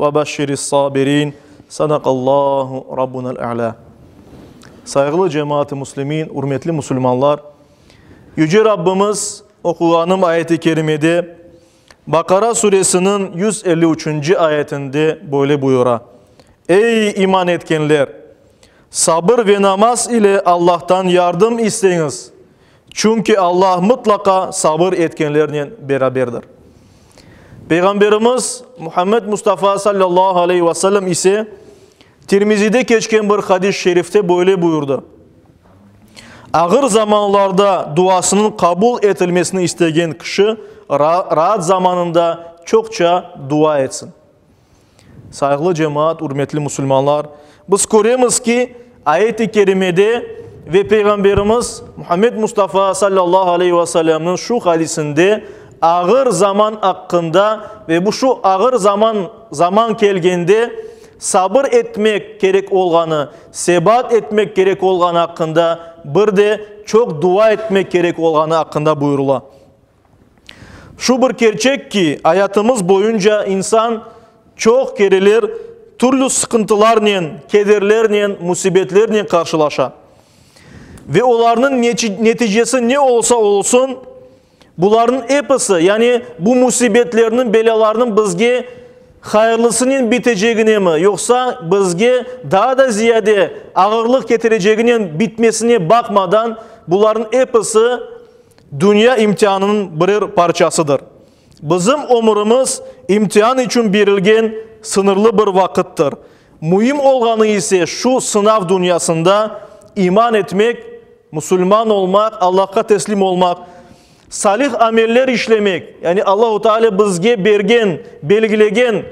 Ve beşşiris sabirin. Sadaqallahu Rabbunal E'la. Sayğılı cemaat-ı muslimin, ürmetli musulmanlar, Yüce Rabbimiz oquğanım ayet-i kerimede, Baqara Suresiniñ yüz elli üçünci ayetinde böyle buyura, Ey, iman etkenler! Sabır ve namaz ile Allahtan yardım isteñiz, Çünki Alla mıtlaqa sabır etkenlernen beraberdir. Peyğamberimiz Muhammed Mustafa sallallahu aleyhi ve sellem ise Tirmizide keçken bir hadis-i şerifte böyle buyurdı, Ağır zamanlarda duasınıñ qabul etilmesini istegen kişi raat zamanında çoqça dua etsin. Sayğılı cemaat, ürmetli musulmanlar, biz köremiz ki, ayet-i kerimede ve Peyğamberimiz Muhammed Mustafa sallallahu aleyhi ve sellemniñ şu hadisinde ağır zaman aqqında ve bu şu ağır zaman zaman kelgende sabır etmek kerek olğanı, sebat etmek kerek olğanı aqqında, bir de çoq dua etmek kerek olğanı aqqında buyurıla. Şu bir kerçek ki, ayatımız boyunca insan çoq kereler türlü sıqıntılarnen, kederlernen, musibetlernen qarşılaşa. Ve olarnıñ neticesi ne olsa olsun, bularnıñ episi, yani bu musibetlerniñ, belâlarnıñ bizge hayırlısınen biteçeginemi, yoqsa bizge daa da ziyade ağırlıq ketireceginen bitmesine baqmadan, bularnıñ episi, Dünya imtianınıñ birer parçasıdır. Bizim ömürimiz imtian içün berilgen sıñırlı bir vaqıttır. Müim olğanı ise şu sınav dünyasında iman etmek, musulman olmaq, Allahqa teslim olmaq, salih ameller işlemek, yani Allahu Teala bizge bergen, belgilegen,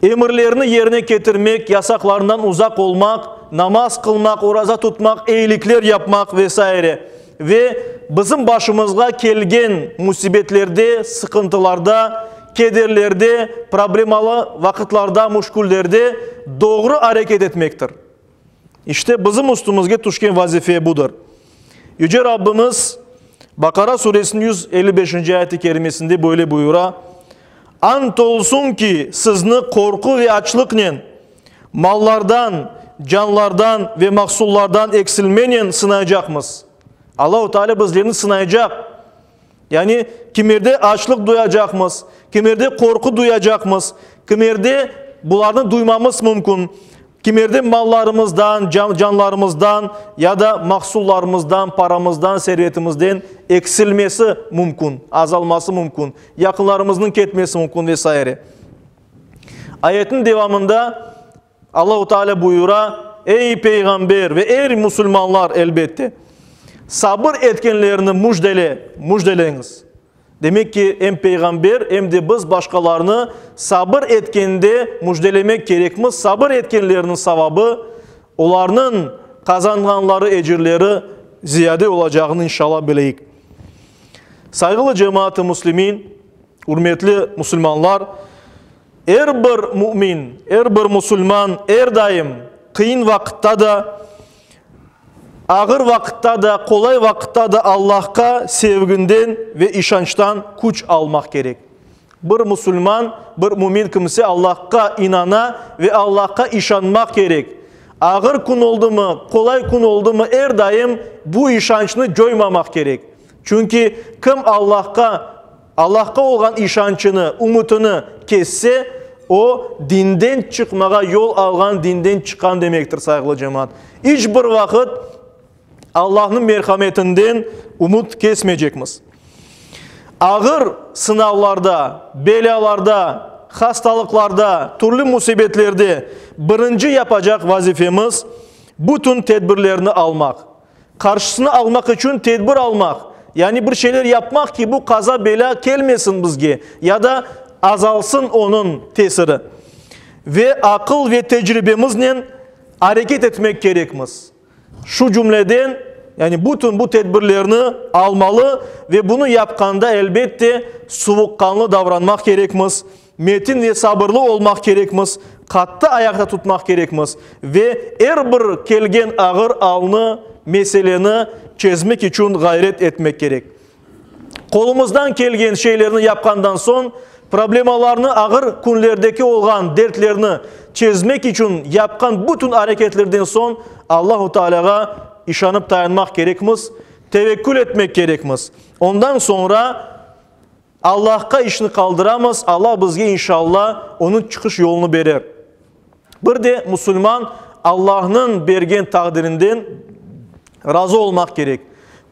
Emirlerni yerine ketirmek, yasaqlarından uzaq olmaq, namaz qılmaq, oraza tutmaq, eyilikler yapmaq ve saire. Ve bizim başımızğa kelgen musibetlerde, sıqıntılarda, kederlerde, problemalı vaqıtlarda, muşküllerde doğru areket etmektir. İşte, bizim üstümizge tüşken vazife budır. Yüce Rabbimiz Baqara Suresiniñ yüz elli beşinci ayet-i kerimesinde böyle buyura, Ant olsun ki, sizni qorqu ve açlıqnen, mallardan, canlardan ve mahsullardan eksilmenen sınaycaqmız. Allahu Teala bizlerni sınaycaq. Yani, kimerde açlıq duyacaqmız, kimerde qorqu duyacaqmız, kimerde bularnı duymamız mümkün, kimerde mallarımızdan, canlarımızdan ya da mahsullarımızdan, paramızdan, servetimizden eksilmesi mümkün, azalması mümkün, yaqınlarımıznıñ ketmesi mümkün ve saire. Ayetniñ devamında, Allahu Teala buyura, Ey, peyğamber, ve er musulmanlar, elbette, sabır etkenlerni müjdele, müjdeleñiz. Demek ki, em peyğamber, em de biz başqalarnı sabır etkende müjdelemek kerekmiz, sabır etkenlerniñ savabı, olarnıñ qazanğanları, ecirleri ziyade olacağını, inşallah, bileyik. Sayğılı cemaat-ı muslimin, ürmetli musulmanlar! Er bir mümin, er bir musulman er daim, qıyın vaqıtta da, ağır vaqıtta da, qolay vaqıtta da Allahqa sevginden ve işançtan küç almaq kerek. Bir musulman, bir mümin kimse Allahqa inana ve Allahqa işanmaq kerek. Ağır kün oldımı, qolay kün oldımı er daim bu işançnı coymamaq kerek. Çünki kim Allahqa. Allahqa olğan işançını, ümütini kesse, o, dinden çıqmağa yol alğan, dinden çıqqan demektir, sayğılı cemaat. İç bir vaqıt Allahnıñ merhametinden ümüt kesmeycekmiz. Ağır sınavlarda, belâlarda, hastalıqlarda, türlü musibetlerde birinci yapacaq vazifemiz, bütün tedbirlerni almaq, Qarşısını almaq içün tedbir almaq, yani bir şeyler yapmaq ki, bu qaza-belâ kelmesin bizge ya da azalsın onıñ tesiri. Ve aqıl ve tecribemiznen areket etmek kerekmiz. Şu cümleden, yani bütün bu tedbirlerni almalı ve bunı yapqanda, elbette, suvuqqanlı davranmaq kerekmiz. Metin ve sabırlı olmaq kerekmiz, qattı ayaqta tutmaq kerekmiz ve er bir kelgen ağır alnı, meseleni, çezmek içün ğayret etmek kerek. Qolumızdan kelgen şeylerni yapqandan soñ, problemalarnı, ağır künlerdeki olğan dertlerni çezmek içün yapqan bütün areketlerden soñ Allahu Taalâğa işanıp tayanmaq kerekmiz, tevekkül etmek kerekmiz. Ondan soñra Allahqa işni qaldıramız, Allah bizge inşalla onıñ çıqış yolunı berer. Bir de musulman Allahnıñ bergen taqdirinden razı olmaq kerek.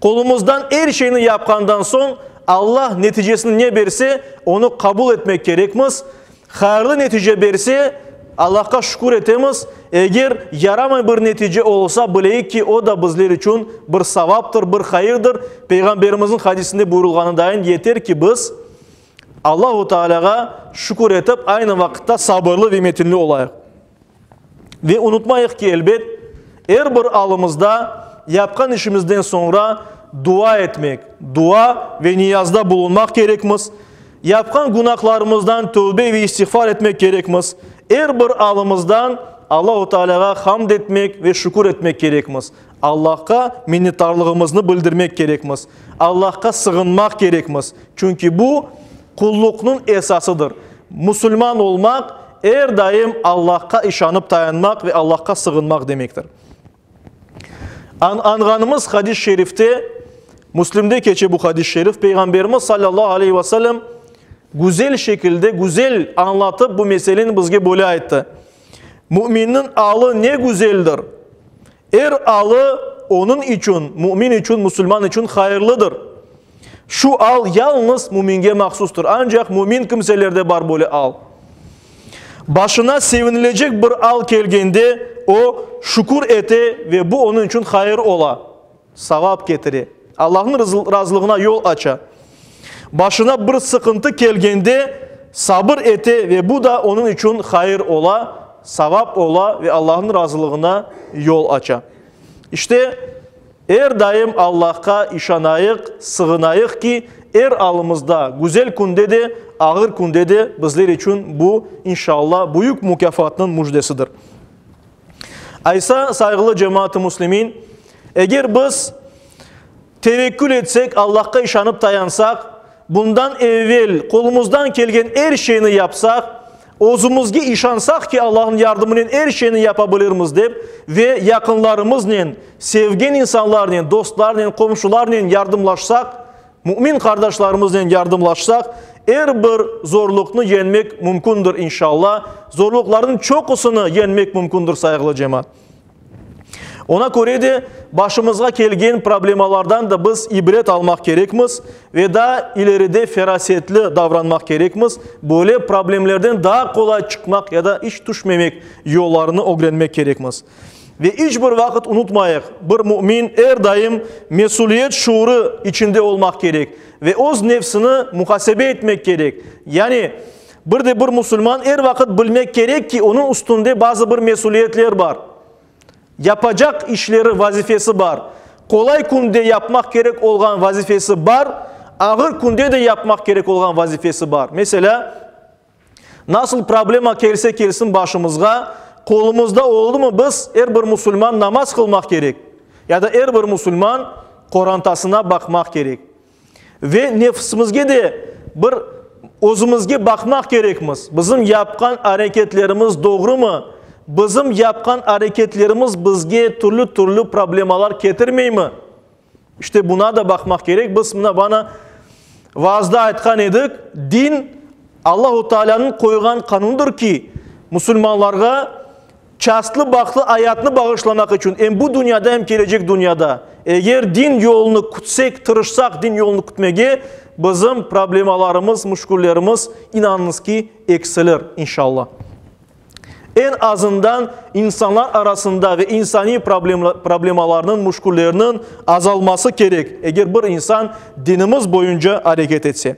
Qolumızdan er şeyni yapqandan soñ Allah neticesini ne berse, onı qabul etmek kerekmiz. Hayırlı netice berse, Allahqa şükür etemiz, eger yaramay bir netice olsa, bileyik ki, o da bizler içün bir savaptır, bir hayırdır. Peyğamberimizniñ hadisinde buyurulğanıdayin, yeter ki, biz Allahu Tealâğa şükür etip, aynı vaqıtta sabırlı ve metinli olayıq. Ve unutmayıq ki, elbet, er bir alımızda yapqan işimizden soñra dua etmek, dua ve niyazda bulunmaq kerekmiz, yapqan günahlarımızdan tövbe ve istiğfar etmek kerekmiz, er bir alımızdan Allahu Tealâğa hamd etmek ve şükür etmek kerekmiz, Allahqa minnetdarlığımıznı bildirmek kerekmiz, Allahqa sığınmaq kerekmiz, çünki bu, Qulluqnıñ esasıdır. Musulman olmaq, er daim Allahqa işanıp tayanmaq ve Allahqa sığınmaq demektir. Añğanımız hadis-i şerifte, Müslimde keçe bu hadis-i şerif, Peyğamberimiz sallallahu aleyhi ve sellem güzel şekilde, güzel añlatıp bu meseleni bizge böyle ayttı, Müminniñ alı ne güzeldir! Er alı onıñ içün, mümin içün, musulman içün hayırlıdır. Şu al yalıñız müminge mahsustur, ancaq mümin kimselerde bar böyle al. Başına sevinilecek bir al kelgende, o, şükür ete ve bu onıñ içün hayır ola, savap ketire, Allahnıñ razılığına yol aça. Başına bir sıqıntı kelgende, sabır ete ve bu da onıñ içün hayır ola, savap ola ve Allahnıñ razılığına yol aça. İşte, Er daim Allahqa işanayıq, sığınayıq ki, er alımızda, güzel künde de, ağır künde de bizler içün bu, inşallah, büyük mukâfatnıñ müjdesidir. Aysa, sayğılı cemaat-ı müslimin, eger biz tevekkül etsek, Allahqa işanıp tayansaq, bundan evvel qolumızdan kelgen er şeyni yapsaq, Özümizge işansaq ki, Allahnıñ yardımınen er şeyni yapabilirmiz dep ve yaqınlarımıznen, sevgen insanlarnen, dostlarnen, qomşularnen yardımlaşsaq, mümin qardaşlarımıznen yardımlaşsaq, er bir zorluqnı yeñmek mümkündir, inşalla, zorluqlarnıñ çoqusını yeñmek mümkündir, sayğılı cemaat. Oña köre de, başımızğa kelgen problemalardan da biz ibret almaq kerekmiz ve daa ileride ferasetli davranmaq kerekmiz, böyle problemlerden daa qolay çıqmaq ya da iç tüşmemek yollarını ögrenmek kerekmiz. Ve iç bir vaqıt unutmayıq, bir mümin er daim mesüliyet şuurı içinde olmaq kerek ve öz nefsini muhasebe etmek kerek, yani, Bir de bir musulman er vaqıt bilmek kerek ki, onıñ üstünde bazı bir mesüliyetler bar, yapacaq işleri, vazifesi bar. Qolay künde yapmaq kerek olğan vazifesi bar, ağır künde de yapmaq kerek olğan vazifesi bar. Meselâ, nasıl problema kelse kelsin başımızğa, qolumızda oldumı biz, er bir musulman namaz qılmaq kerek, ya da er bir musulman qorantasına baqmaq kerek. Ve nefisimizge de bir özümizge baqmaq kerekmiz, bizim yapqan areketlerimiz doğrumı, bizim yapqan areketlerimiz bizge türlü-türlü problemalar ketirmeymi? İşte buna da baqmaq kerek. Biz mına bana vaazda aytqan edik, din Allahu Taalânıñ qoyğan qanunıdır ki, musulmanlarğa Çastlı bahtlı ayatnı bağışlamaq içün em bu dünyada, em kelecek dünyada. Eger din yolunı kütsek, tırışsaq din yolunı kütmege, bizim problemalarımız, müşküllerimiz, inanıñız ki, eksilir, inşalla. Eñ azından insanlar arasında ve insaniy problemalarnıñ, müşküllerniñ azalması kerek, eger bir insan dinimiz boyunca areket etse.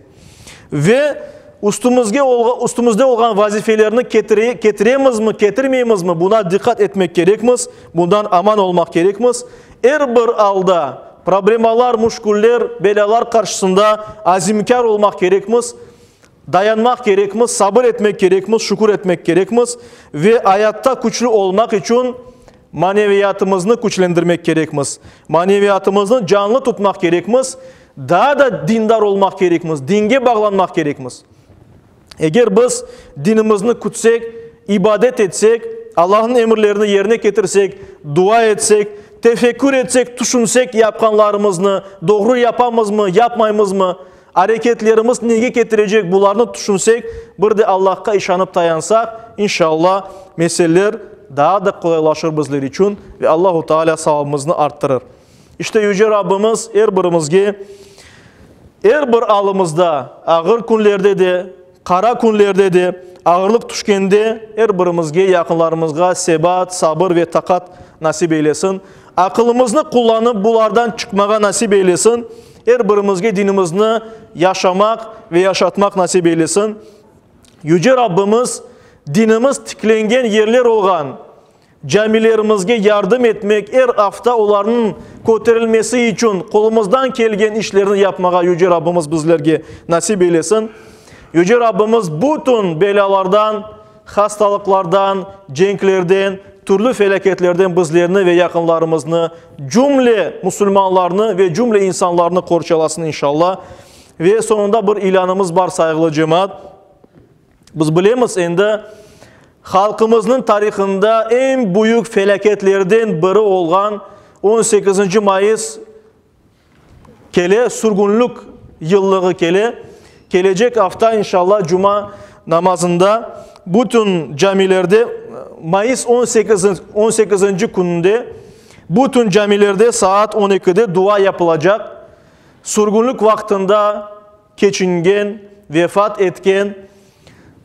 ve üstümizge olğan üstümizde olğan vazifelerni ketire ketiremizmi, ketirmeymizmi, buna diqqat etmek kerekmiz, bundan aman olmaq kerekmiz. Er bir alda, problemalar, müşküller, belâlar qarşısında azimkâr olmaq kerekmiz, dayanmaq kerekmiz, sabır etmek kerekmiz, şükür etmek kerekmiz ve ayatta küçlü olmaq içün Maneviyatımıznı küçlendirmek kerekmiz, maneviyatımıznı canlı tutmaq kerekmiz, daa da dindar olmaq kerekmiz, dinge bağlanmaq kerekmiz. Eger biz dinimizni kütsek, ibadet etsek, Allahnıñ emirlerini yerine ketirsek, dua etsek, tefekkür etsek, tüşünsek yapqanlarımıznı, doğru yapamızmı, yapmaymızmı, Areketlerimiz nege ketirecek bularnı tüşünsek, bir de Allahqa işanıp tayansaq, inşalla, meseleler daa da qolaylaşır bizler içün ve Allahu Taalâ savabımıznı arttırır. İşte Yüce Rabbimiz er birimizge er bir alımızda, ağır künlerde de, Qara künlerde de, ağırlıq tüşkende er birimizge, yaqınlarımızğa sebat, sabır ve taqat nasip eylesin. Aqılımıznı qullanıp bulardan çıqmağa nasip eylesin. Er birimizge dinimizni yaşamaq ve yaşatmaq nasip eylesin. Yüce Rabbimiz dinimiz tiklengen yerler olğan, Camilerimizge yardım etmek, er afta olarnıñ köterilmesi içün qolumızdan kelgen işlerni yapmağa Yüce Rabbimiz bizlerge nasip eylesin. Yüce Rabbimiz bütün belâlardan, hastalıqlardan, cenklerden, türlü felâketlerden bizlerni ve yaqınlarımıznı, cümle musulmanlarnı ve cümle insanlarnı qorçalasın inşallah. Ve soñunda bir ilânımız bar, sayğılı cemaat. Biz bilemiz, endi halqımıznıñ tarihında eñ büyük felâketlerden biri olğan on sekizinci mayıs kele, sürgünlik yıllığı kele. Kelecek afta, inşallah, cuma namazında bütün camilerde, mayıs on sekiz, on sekizinci kününde bütün camilerde saat on ekide dua yapılacaq. Sürgünlik vaqtında, keçingen, vefat etken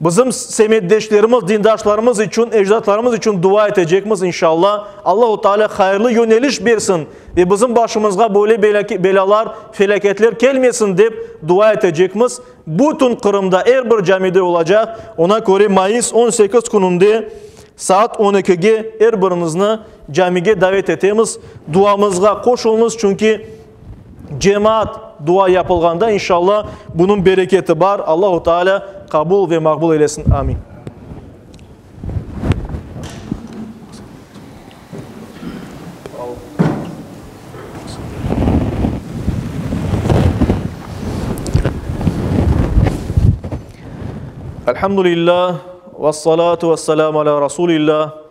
bizim semetdeşlerimiz, dindaşlarımız içün, ecdatlarımız içün dua etecekmiz, inşalla. Allahu Teala hayırlı yöneliş bersin ve bizim başımızğa böyle belâlar, felâketler kelmesin dep dua etecekmiz. Bütün Qırımda, er bir camide olacaq. Ona köre mayıs on sekiz kününde saat on ekige er birinizni camige davet etemiz. Duamızğa qoşulunız, çünki Cemaat dua yapılğanda, inşalla, bunıñ bereketi bar. Allahu Teala qabul ve maqbul eylesin. Amin. Elhamdülillah. Vessalatu vesselamu ala Rasulillah.